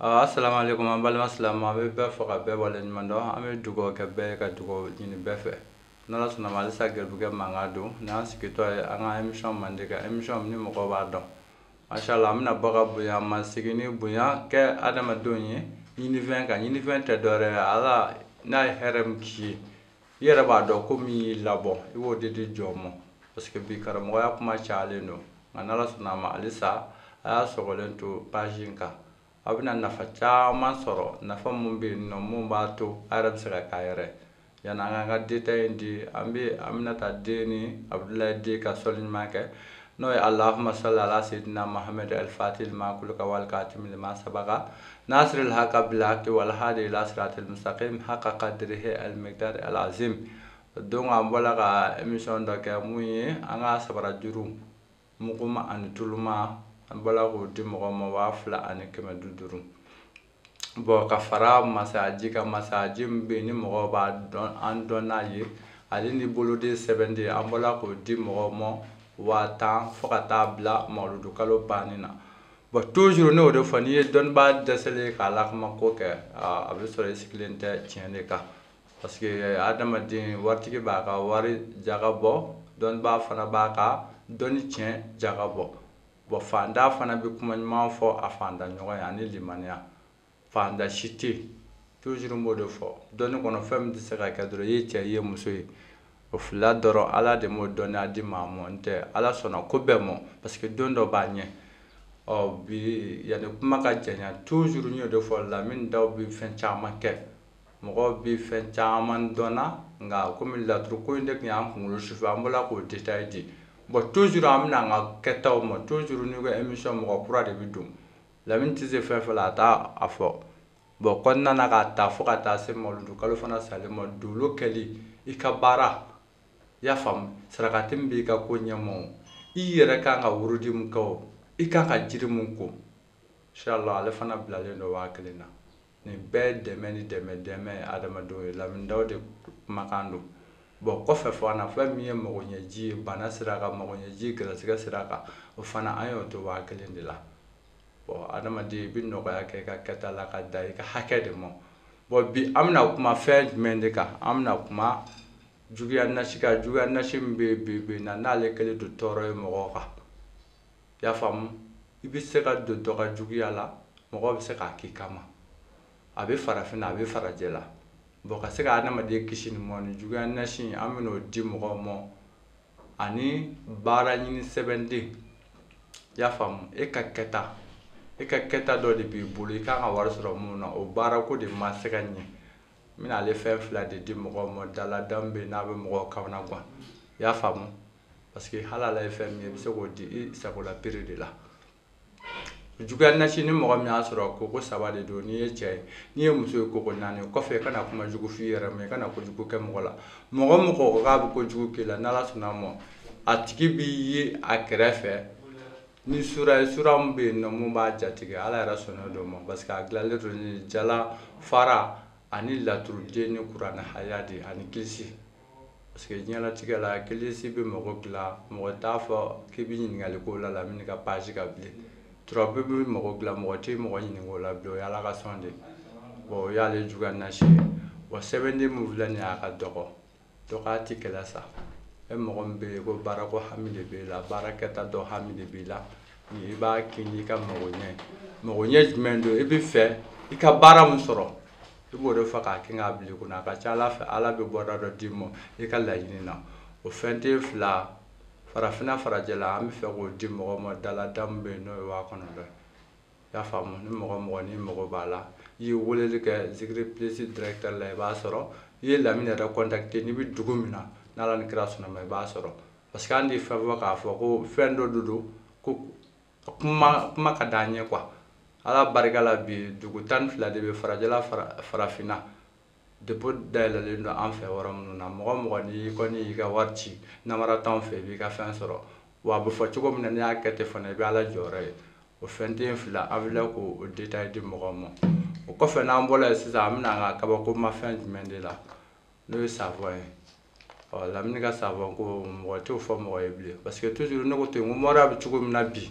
asalaamu aleykum an balima silamɛ an bɛ bɛɛ fo ka bɛɛ waleɲuman dɔn an bɛ dugawu kɛ bɛɛ ye ka dugawu ɲini bɛɛ fɛ n'ala sɔnna a ma halisa garibukɛ mankan don n'an sigitɔ ye an ka emisiyɔn mande ka emisiyɔn ni mɔgɔw b'a dɔn mashallah an bɛna bɔ ka bonya masegin ni bonya kɛ adamadenw ye ɲinifɛn ka ɲinifɛn tɛ dɔwɛrɛ ye ala n'a ye hɛrɛ min k'i ye i yɛrɛ b'a dɔn ko min y'i labɔ i b'o de di jɔn ma parce que bi karamɔgɔya kuma cayalen don nka n'ala sɔnna a ma halisa a y'a sɔgɔlen to page in kan a bɛna nafa caman sɔrɔ nafa min bɛ yen nɔ min b'a to a yɛrɛ bɛ se ka k'a yɛrɛ yanni an k'an ka detail in di an bɛ aminata den ni abudulayi den ka sɔli ɲuman kɛ n'o ye allahumma salli ala sayyidina muhammad al-fatihi lima kulika wal katimi lima sabaka nasiril haqqa bil haqqi wal hadi ila siratil mustaqim haqqa qadrihi al-miqdar al-azim donc an bɔla ka emisiyɔn dɔ kɛ min ye an ka sabara juru muguma ani tuluma an bɔla k'o di mɔgɔ ma waa fila ani kɛmɛ du duuru bon ka fara masayaji ka masayaji min bɛ yen ni mɔgɔw b'a dɔn an dɔn n'a ye ale ni boloden sɛbɛnden an bɔla k'o di mɔgɔw ma waa tan fo ka taa bila mawuludu kalo banni na bon toujours ne y'o de fɔ n'i ye dɔnbaa dɛsɛlen ye k'a lakuma ko kɛ a bɛ sɔrɔ i sigilen tɛ tiɲɛ de kan parce que adamaden waritigi b'a ka wari jaga bɔ dɔnbaa fana b'a ka dɔnni tiɲɛ jaga bɔ Bon faantan fana bɛ kuma ɲuman fɔ a faantan ɲɔgɔn ye ani limaniya faantan si tɛ toujours n b'o de fɔ dɔnni kɔnɔ fɛn min tɛ se ka kɛ dɔrɔn i ye cɛ i ye muso ye o fila dɔrɔn Ala de m'o dɔnniya di maa ma n tɛ Ala sɔnna ko bɛɛ ma parce que don dɔ b'a ɲɛ ɔ bi yanni kuma ka janya toujours n y'o de fɔ Lamini Dawu bɛ fɛn caman kɛ Mɔgɔ bɛ fɛn caman dɔn na nka kɔmi laturu ko in de tun y'an kunkolo sufɛ an bɔra k'o détail di bon toujours an bɛna an ka kɛtaw ma toujours n'i ko émission mɔgɔ kura de bɛ don Lamini tɛ se fɛn fɛn la a t'a fɔ bon kɔnɔna na k'a ta fo ka taa se mawuludu kalo fana salen ma dolo kɛli i ka baara i y'a faamu sarakati min b'i ka ko ɲɛma o i yɛrɛ kan ka wurudi min kɛ o i kan ka jiri min ko inchallah ale fana bilalen don waa kelen na nin bɛɛ dɛmɛ ni dɛmɛ dɛmɛ ye adamadenw ye lamini dawu de kumakan don bon kɔfɛ fana fɛn min ye magoɲɛji ye bana sira kan magoɲɛji gɛrɛsɛgɛ sira kan o fana an y'o to waa kelen de la bon adamaden i bɛ nɔgɔya kɛ i ka kɛta la ka da i ka hakɛ de ma bon bi an bɛna kuma fɛn jumɛn de kan an bɛna kuma juguya nasi kan juguya nasi min bɛ bi bi na n'ale kɛlen don tɔɔrɔ ye mɔgɔw kan i y'a faamu i bɛ se ka don dɔ ka juguya la mɔgɔ bɛ se k'a k'i kama a bɛ farafinna a bɛ farajɛla bon ka se ka adamaden kisi ni mɔ ni juguya nasi an bɛn'o di mɔgɔw ma ani baara ɲini sɛbɛnden i y'a faamu e ka kɛta e ka kɛta dɔ de b'i bolo i kan ka wari sɔrɔ min na o baara ko de ma se ka ɲɛ n bɛna ale fɛn fila de di mɔgɔw ma daladamu bɛ n'a bɛ mɔgɔw kamanagan i y'a faamu parce que hali ala ye fɛn min ye i bɛ se k'o di i sago la pere de la juguya nasi ni mɔgɔ min y'a sɔrɔ koko saba de don n'i ye cɛ ye n'i ye muso ye koko naani kɔfɛ i kana kuma jugu f'i yɛrɛ ma i kana ko jugu kɛ mɔgɔ la mɔgɔ mɔgɔ k'a bɛ ko jugu k'i la n'ala sɔnn'a ma a tigi b'i ye a kɛrɛfɛ ni sura ye sura min bɛ yen nɔ mun b'a jatigɛ ala yɛrɛ sɔnna dɔ ma parce que a dilanlen don ni jala fara ani laturuden ni kuranɛ haya de ani kilisi Parce que diɲɛlatigɛ la kilisi bɛ mɔgɔ dilan mɔgɔ t'a fɔ k'i bɛ ɲininkali k'o la lamini ka page kan bilen turabu bɛ mɔgɔ dilan mɔgɔ tɛ mɔgɔ ɲininka o la don ala ka sɔn de bon o y'ale juguya nasi ye wa sɛbɛnden min filɛ nin y'a ka dɔgɔ dɔgɔya tɛ kɛlɛ sa e mɔgɔ min bɛ yen ko baara ko hami de b'i la baarakɛta dɔ hami de b'i la i b'a kɛ n'i ka magoɲɛ magoɲɛ jumɛn don i b'a fɛ i ka baara min sɔrɔ i b'o de fɔ k'a kɛ k'a bila i kunna a ka ca ala fɛ ala bɛ bɔda dɔ d'i ma i ka laɲini na o fɛnden fila farafinna farajɛla an b'a fɛ k'o di mɔgɔ ma daladamu bɛ yen n'o ye waa kɔnɔntɔn ye i y'a faamu ni mɔgɔ mɔgɔ n'i mago b'a la i ye weleli kɛ zikiri plus directeur la i b'a sɔrɔ i ye lamini yɛrɛ contacter n'i bɛ dugu min na n'ala ni kira sɔnn'a ma i b'a sɔrɔ parce que an tɛ fɛn fɔ k'a fɔ ko fɛn dɔ de don ko kuma kuma ka d'an ye quoi ala barika la bi dugu tan ni fila de bɛ farajɛla farafinna dépôt dayɛlɛlen don an fɛ yɔrɔ minnu na mɔgɔ mɔgɔ n'i kɔni y'i ka wari ci namara t'anw fɛ i b'i ka fɛn sɔrɔ wa a bɛ fɔ cogo min na n'i y'a kɛ ten fana i bɛ ala jɔyɔrɔ ye o fɛnden fila an filɛ k'o détail di mɔgɔw ma o kɔfɛ n'an bɔra yen sisan an bɛ na an ka kabakomafɛn jumɛn de la n'o ye savon ye ɔ lamini ka savon ko mɔgɔ t'o fɔ mɔgɔ ye bilen parce que toujours ne ko ten ko mɔriya bɛ cogo min na bi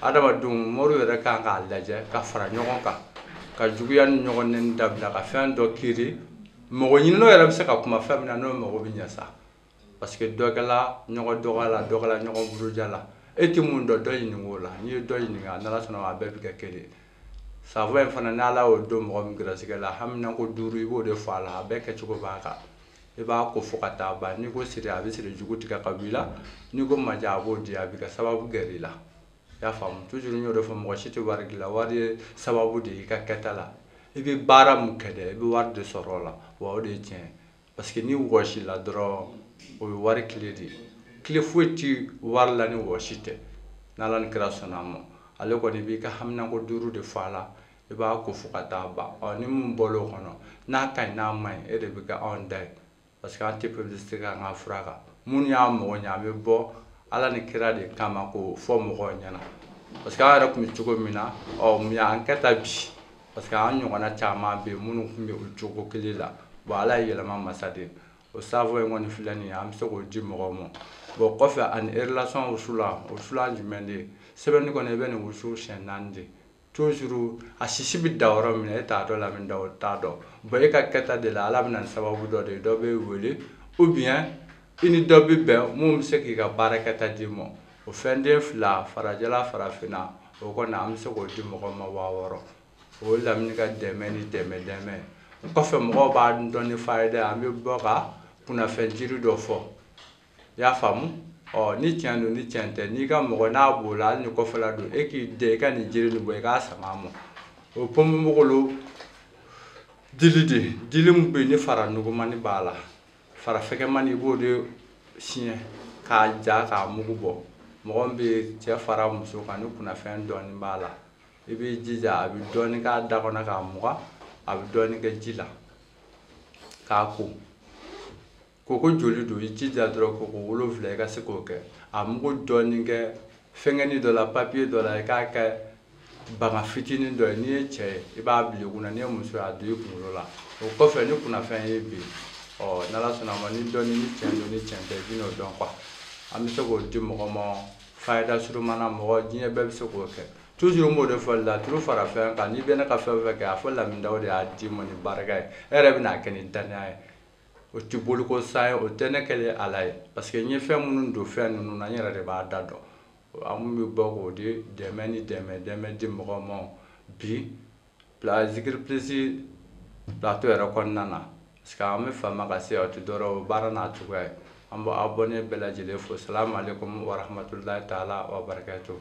adamadenw mɔriw yɛrɛ kan k'a lajɛ ka fara ɲɔgɔn kan ka juguya ni ɲɔgɔn nɛni dabila ka fɛn dɔ créer mɔgɔ ɲininnaw yɛrɛ bɛ se ka kuma fɛn min na n'o mago bɛ ɲɛ sa parce que dɔ kɛla ɲɔgɔn dɔgɔya la dɔ kɛla ɲɔgɔn buruja la e tɛ mun dɔn dɔ ɲininka o la n'i ye dɔ ɲininka n'ala sɔnna a bɛɛ bɛ kɛ kelen savon in fana n'ala y'o don mɔgɔ min gɛrɛsigɛ la haminanko duuru i b'o de fɔ a la a bɛɛ kɛcogo b'a kan i b'a ko fo ka taa ban n'i ko siri a bɛ siri jugu tigɛ ka b'i la n'i ko maja a b'o di a b'i ka sababu gɛrɛ i la i y'a faamu toujours n y'o de fɔ mɔgɔ si tɛ wari dilan wari ye sababu de ye i ka kɛta la i bɛ baara mun kɛ dɛ i bɛ wari de sɔrɔ o la wa o de ye tiɲɛ ye parce que ni wɔsi la dɔrɔn o ye wari tile de ye tile foyi ti wari la ni wɔsi tɛ n'ala ni kira sɔnna a ma ale kɔni b'i ka haminako duuru de fɔ a la I b'a ko fo ka taa ban ɔ ni min bɔra o kɔnɔ n'a ka ɲi n'a man ɲi e de bɛ kɛ anw da ye parce que an tɛ publicité kɛ an ka fura kan minnu y'a mɔgɔ ɲɛ an bɛ bɔ ala ni kira de kama k'o fɔ mɔgɔw ɲɛna parce que an yɛrɛ tun bɛ cogo min na ɔ mun y'an kɛ tan bi parce que an ɲɔgɔnna caman bɛ yen minnu tun bɛ o cogo kelen la bon ala ye yɛlɛma masa de ye o saafo in kɔni filɛ nin ye an bɛ se k'o di mɔgɔw ma bon kɔfɛ ani relation wusulan wusulan jumɛn de ye sɛbɛnni kɔni i bɛ nin wusu siɲɛ naani de toujours a sisi bɛ da yɔrɔ min na e t'a dɔn Lamini Dawu t'a dɔn bon e ka kɛta de la ala bɛ na ni sababu dɔ de ye dɔ b'i wele ou bien i ni dɔ bɛ bɛn min bɛ se k'i ka baarakɛta d'i ma o fɛnden fila farajɛla farafinna o kɔni an bɛ se k'o di mɔgɔ ma waa wɔɔrɔ o ye lamini ka dɛmɛ ni dɛmɛ dɛmɛ kɔfɛ mɔgɔw b'an dɔn ni fayida ye an bɛ bɔ ka kunnafɛn jiri dɔ fɔ i y'a faamu ɔ ni tiɲɛ don ni tiɲɛ tɛ n'i ka mɔgɔ n'a b'o la hali ni kɔfɛla don e k'i dɛ i ka nin jiri nin bɔ i k'a sama a ma o ponponpogolo dili de dili min bɛ yen ni fara nugumani b'a la fara fɛgɛmani i b'o de siyɛn k'a ja k'a mugu bɔ mɔgɔ min bɛ cɛ fara muso kan ni kunnafɛn dɔɔnin b'a la i b'i jija a bɛ dɔɔnin k'a da kɔnɔ k'a mugan a bɛ dɔɔnin kɛ ji la k'a ko Koko joli don i jija dɔrɔn koko wolonwula i ka se k'o kɛ a mugu dɔɔni kɛ fɛngɛni dɔ la papiye dɔ la i k'a kɛ bagan fitinin dɔ ye n'i ye cɛ ye i b'a bila i kunna n'i ye muso ye a don i kunkolo la o kɔfɛ ni kunnafɛn ye bi ɔ n'ala sɔnna a ma ni dɔɔni ni cɛn don ni cɛn tɛ i bin'o dɔn quoi an bɛ se k'o di mɔgɔ ma fayida surunman na mɔgɔ diɲɛ bɛɛ bɛ se k'o kɛ toujours n b'o de fɔ laturu fara fɛn kan n'i bɛ ne ka fɛn o fɛn kɛ a fɔ Lamini Dawu de y'a d'i ma ni barika ye e yɛrɛ bɛna a kɛ ni dannaya ye o tɛ boliko sa ye o tɛ ne kɛlen ala ye parce que n ye fɛn minnu don fɛn ninnu na n yɛrɛ de b'a da dɔn an minnu bɛ bɔ k'o di dɛmɛ ni dɛmɛ dɛmɛ di mɔgɔ ma bi bila zikiri pilisi plateau yɛrɛ kɔnɔna na parce que an bɛ fama ka se o tɛ dɔrɔn o baara n'a cogoya ye an bɛ abɔne bɛɛ lajɛlen fo salamu aleykum warahmatulahi taala wabarakatuhu